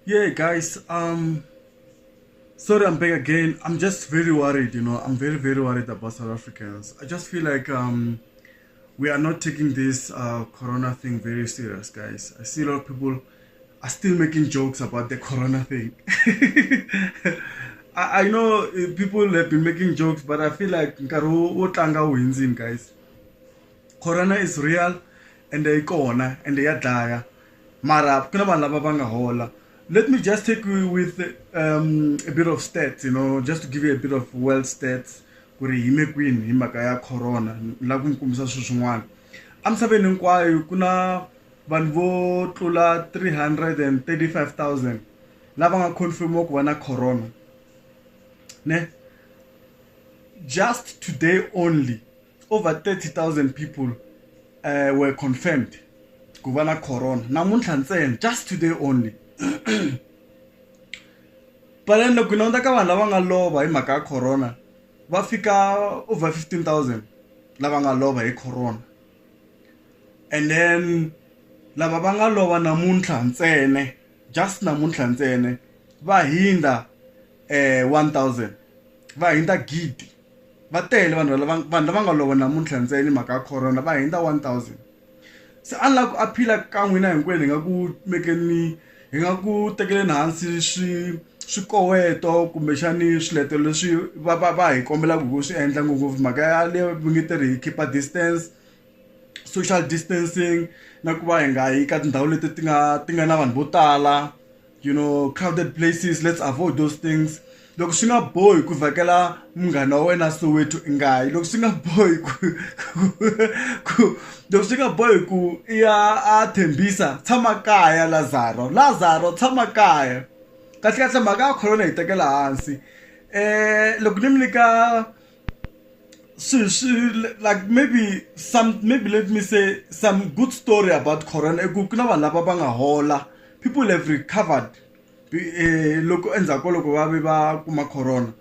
yeah guys um sorry i'm back again i'm just very worried you know i'm very very worried about south africans i just feel like um we are not taking this uh, corona thing very serious guys i see a lot of people are still making jokes about the corona thing I, I know uh, people have been making jokes but i feel like guys corona is real and they corona and they are dire Mara ku na vanhu lava va nga hola. Let me just take you with um, a bit of stats, you know, just to give you a bit of world stats ku ri yime kwini hi mhaka ya corona la ku mi kombisa swilo swin'wana emisaveni hinkwayo ku na vanhu vo tlula 335000 lava nga confirmiwa ku va na corona ne just today only over 30,000 people uh, were confirmed ku va na corona namuntlha ntsena just today only but then loko hi languta ka vanhu lava nga lova hi mhaka ya corona va fika over 15000 lava nga lova hi corona and then lava va nga lova namuntlha ntsene just namuntlha ntsene va hindza um 1000 va hindza gidi Va tele vanhu lava vanhu lava nga lova namuntlha ntsena hi mhaka ya corona va hundza 1000. Se a ni lava ku aphila ka n'wina hinkwenu hi nga ku mekeni hi nga ku tekeleni hansi swi swikoweto kumbexani swiletelo leswi va va va hi kombelaka ku swi endla ngopfungopfu mhaka ya le va nge te ri hi khipa distance social distancing na ku va hi nga yi ka tindhawu leti ti nga ti nga na vanhu vo tala. you know crowded places let's avoid those things loko swi nga bohi ku vhakela munghana wa wena soweto i nga yi loko swi nga bohi ku loko swi nga bohi ku i ya a thembisa tshama kaya lazaro lazaro tshama kaya kahlekahle mhaka ya khorona hi tekela hansi um loko ni mi nyika So, so, like maybe some maybe let me say some good story about corona ku na vanhu lava va nga hola people have recovered eh, loko endzhaku ka loko va ve va kuma corona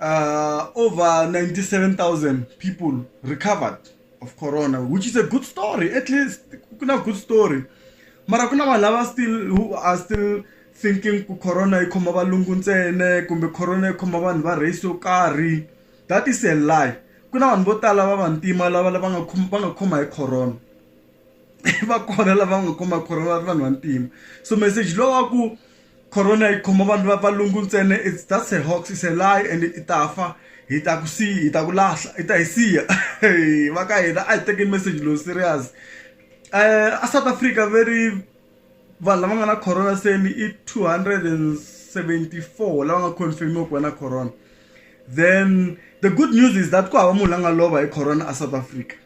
uh, over 97000 people recovered of corona which is a good story at least ku na good story mara ku na vanhu lava still who are still thinking ku corona yi khoma valungu ntsene kumbe corona yi khoma vanhu va race yo karhi that is a lie ku na vanhu vo tala va vantima lava lava nga va nga khoma hi corona. va kona lava nga kuma corona va ri vanhu vantima so message lowu wa ku corona yi khoma vanhu va valungu ntsena it's that's a hoax it's a lie and i ta fa hi ta ku siyi hi ta ku lahla i ta hi siya va ka hina a hi tekeni message lowu serious a South Africa very vanhu lava nga na corona se ni i two hundred and seventy four lava nga confirm-iwa ku va na corona then the good news is that ku hava munhu la nga lova hi corona a South Africa.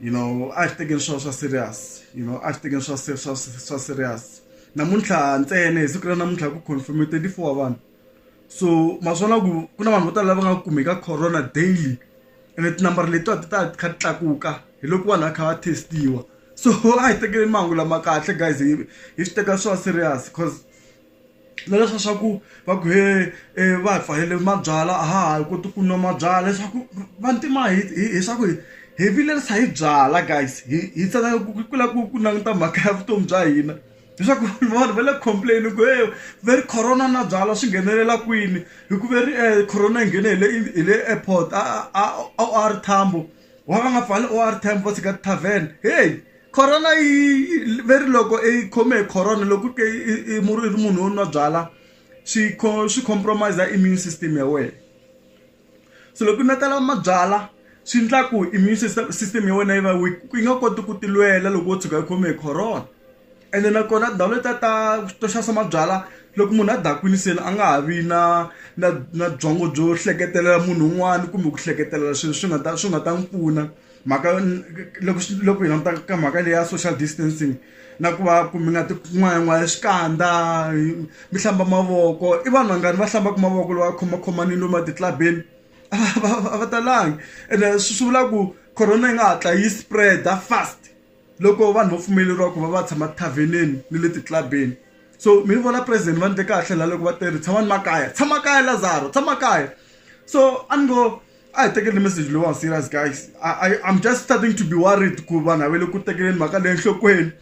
you know a xi tekeni swo swa serious you know a xi tekeni swa swa swa serious namuntlha ntsena hi siku ra namuntlha ku confirm twenty four wa vanhu so maswona ku ku na vanhu vo tala lava nga kumeka corona daily ene tinambara letiwa ti ta ti kha ti tlakuka hi loko vanhu va kha va test-iwa so a hi tekeleni mahungu lama kahle guys hi hi swi teka swa serious cause na leswa swa ku va ku he e va hi pfalele mabyalwa a ha ha koti ku nwa mabyalwa leswaku vantima hi hi hi swa ku hi hi vilerisa hi byalwa guys hi hi tsandzeka ku ku lava ku ku languta mhaka ya vutomi bya hina leswaku vanhu va le ku complain-i ku he ve ri corona na byalwa swi nghenelela kwini hi ku ve ri corona yi nghene hi le hi le airport a a a O R Tambo. wa va nga pfali or time vo tshika tithavheni heyi corona yi ve ri loko i khome hi corona loko ke i mu ri munhu wo nwa byala swi swi compromise immune system ya wena se loko u nakala mabyala swi endla ku immune system system ya wena yi va weak yi nga koti ku tilwela loko wo tshuka yi khome hi corona. ene nakona tindhawu letiya ta to xavisa mabyalwa loko munhu a dakwini se a nga ha vi na na na byongo byo hleketelela munhu un'wana kumbe ku hleketelela swilo swi nga ta swi nga ta n'wi pfuna mhaka loko loko hi languta ka mhaka leyi ya social distancing na ku va ku mi nga ti n'wayan'waya xikandza mi hlamba mavoko i vanhu vangani va hlambaka mavoko loko va khomakhomanile lomu etitlilabeni a va a va talangi ene swi vula ku corona yi nga hatla yi spread-a fast. loko vanhu va pfumeleriwa ku va va tshama tithavhenini ni le titlilabeni so mi ni vona president va ndle kahle la loko va tele tshama ni makaya tshama kaya lazaro tshama kaya so a ni ngo a hi tekeli message lowa serious guys I, I'm just starting to be worried ku vanhu a va le ku tekeleni mhaka leyi enhlokweni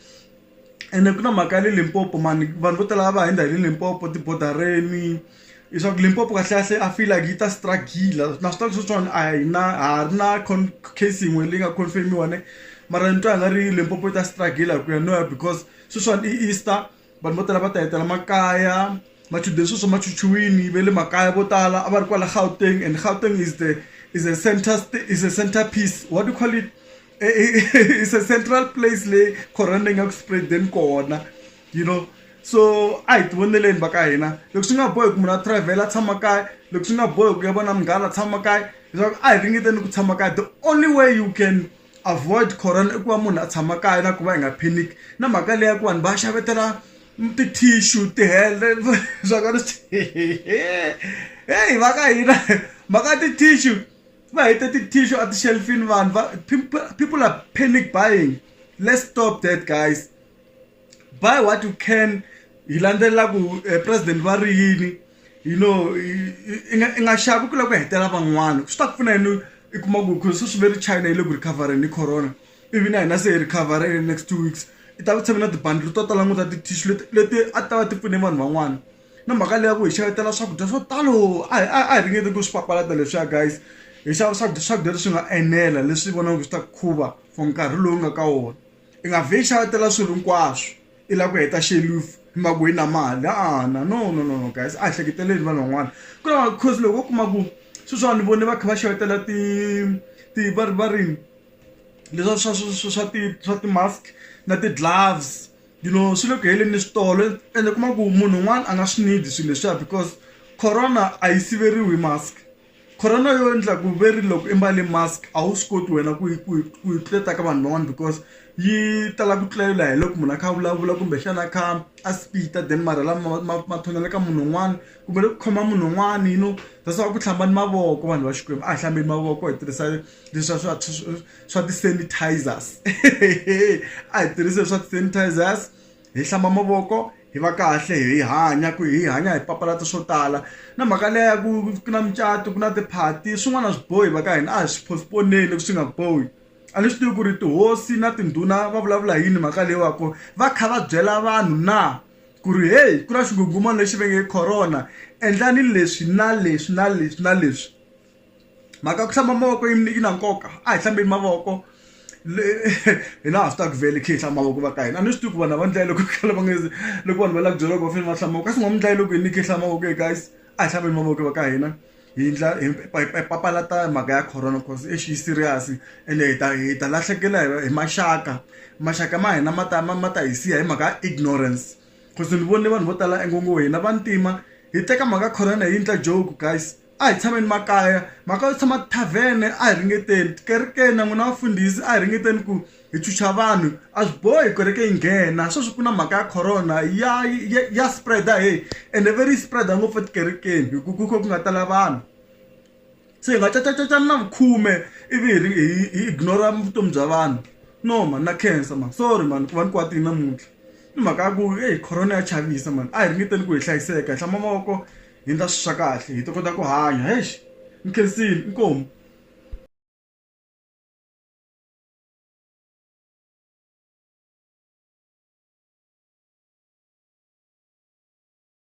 ene ku na mhaka ya le Limpopo mani vanhu vo tala va hundza hi le Limpopo tibodareni leswaku limpopo kahlekahle a feel like yi ta struggle na swi tiva sweswiwani a hi na ha ri na case yin'we leyi nga confirmiwa ne mara ni twa nga ri limpopo yi ta struggle hi ku ya no ya because sweswiwani i easter vanhu vo tala va ta hetela makaya machudeni sweswo ma chuchiwini va le makaya vo tala a va ri kwala gauteng and gauteng is the is a center is a center piece what do you call it is a central place leyi corona yi nga ku spread-eni kona you know so a hi tivoneleni va ka hina loko swi nga bohi ku munhu a travel-a tshama kaya loko swi nga bohi ku ya vona munghana tshama kaya leswaku a hi ringeteni ku tshama kaya the only way you can avoid corona i ku va munhu a tshama kaya na ku va hi nga panic na mhaka leya ku vanhu va xavetela ti-tissue tihele swakale heyi va ka hina mhaka ti-tissue va hete ti-tissue a ti-shelfini vanhu va people are panic buying let's stop that guys buy what you can hi landzelela ku president va ri yini you know i nga i nga xavi ku lava ku hetelela van'wana swi ta ku pfuna yini i kuma ku ku sweswi ve ri china yi le ku recoverini hi corona ivi na hina se hi recover in the next two weeks i ta ku tshame na tibandlhi to tala ngopfu ta ti-tissue leti leti a ti ta va ti pfune vanhu van'wana na mhaka leyi ya ku hi xavetela swakudya swo talo a hi a hi ringeti ku swi papalata leswiya guys hi xava swakudya swakudya leswi nga enela leswi vonaka swi ta khuva for nkarhi lowu nga ka wona. i nga vhe i xavetela swilo hinkwaswo i lava ku heta xelufu i maka yi na mali a na no no no no guys a hi hleketeleli vanhu van'wana ku lava cause loko u kuma ku sweswiwa ni vone va kha va xavetela ti ti va ri va ri leswa swa swa swa ti swa ti-mask na ti-gloves you know swi le ku heleni ni switolo ende u kuma ku munhu un'wana a nga swi need swilo leswiya because corona a yi siveriwi hi mask Corona yo endla ku ve ri loko i mbale mask a wu swi koti wena ku yi ku yi ku yi tluleta ka vanhu van'wana because yi tala ku tlulela hi loko munhu a kha a vulavula kumbexana a kha a spit-a then marhi lama ma ma thonela ka munhu un'wana kumbe loko u khoma munhu un'wana you know that's why a ku hlambani mavoko vanhu va Xikwembu a hi hlambeni mavoko hi tirhisa leswa swa swa ti-sanitizers a hi tirhisi leswa ti-sanitizers. hi hlamba mavoko hi va kahle hi hanya ku hi hanya hi papalata swo tala na mhaka leyi ya ku ku na mucato ku na tiphati swin'wana a swi bohi va ka hina a hi swi postpone-ni swi nga bohi a ni swi tivi ku ri tihosi na tindhuna va vulavula yini mhaka leyi wa ku va kha va byela vanhu na ku ri heyi ku na xinghunghumani lexi venge corona endlani leswi na leswi na leswi na leswi. mhaka ku hlamba mavoko yi yi na nkoka a hi hlambeni mavoko hina ha swi ta ku vele khe hi hlamba mavoko va ka hina a ni swi tivi ku vanhu va ndlaya loko khale va nge loko vanhu va lava ku byela loko va fanele va hlamba mavoko kasi n'wa mi ndlaya loko hi ni khe hlamba mavoko e guys a hi hlambeni mavoko va ka hina hi ndla hi papalata mhaka ya corona cause exi yi serious ende hi ta hi ta lahlekela hi maxaka maxaka ma hina ma ta ma ma ta hi siya hi mhaka ya ignorance cause ni vone vanhu vo tala ingoho hina vantima hi teka mhaka corona hi yi ndla joke guys. a hi tshameni makaya mhaka yo tshama tithavhene a hi ringeteni tikerekeni na n'wina vafundhisi a hi ringeteni ku hi chucha vanhu a swi bohi kereke yi nghena sweswi ku na mhaka ya corona ya ya, ya spread-a he ende ve ri spread-a ngopfu etikerekeni hi ku ku kha ku nga tala vanhu se hi nga cacacacani na vukhume ivi hi hi hi ignora vutomi bya vanhu no mani na cancer mani sorry mani ku va ni kwatini namuntlha ni mhaka ya ku eyi corona ya chavisa mani a hi ringeteni ku hi hlayiseka hi hlamba mavoko hi ndla swi swa kahle hi ta kota ku hanya hex ni khensile inkomu